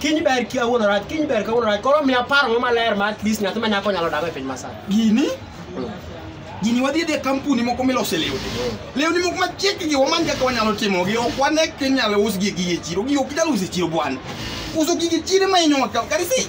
Kiny ber ki awuono rach, kiny ber kawuono rach. Koro miya paro mo maler ma at least nyathi ma nyako nyalo dago e piny masani. gini gini wadhi dhi e kampuni moko milose lewni lewni moko machiekgi wamany kaka wanyalo timogi ok wane kinyalo usgi e gige chiro gi ok inyal uso e chiro bwana uso gige chiro ema inyowa kaw kari si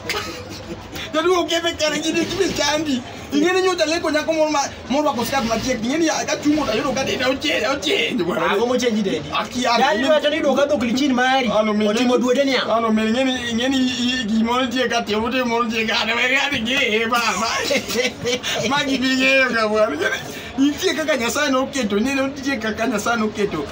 jaduo okethe kare gini gini chandi ing'eni nyocha leko nyako moro ma Mondo ako skat machiegni ng'eni ka chungo to yudo ka dende ochenj ochenj. Ago mochenji dende. Aki an. Yaani wacho ni duoka dhok lichin mari. Ano mi. Otimo duode niya. Ano mi ng'eni ng'eni gimoro tie ka tie ute moro tie ka ne wega ni ge ba ba. Magi bi ng'eyo ka bwana. Nitie kaka Nyasaye noketo, nitie kaka Nyasaye noketo.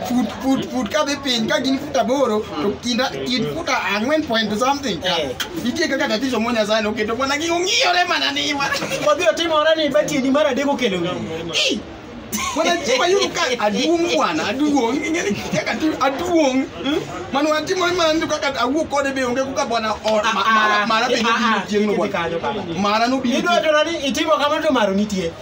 fut fut fut kadhi piny ka gin fut aboro to kinda kind fut ang'wen point something ka Eh. nitie kaka tatizo mo nyasaye noketo mana gi ong'iyore mana ni wa Wabiro timore ni batieni mar adek okelo ng'eyo. Ih! mana chiwa yudo ka aduong' bwana aduong' ing'eni kaka ti- aduong' mano atimo mana ni kaka awuo kode be onge kaka bwana or- ma- mara- mara be nobiro chieng'no bwana mara nobiro Idwa tero ni itimo kamano to maro nitie.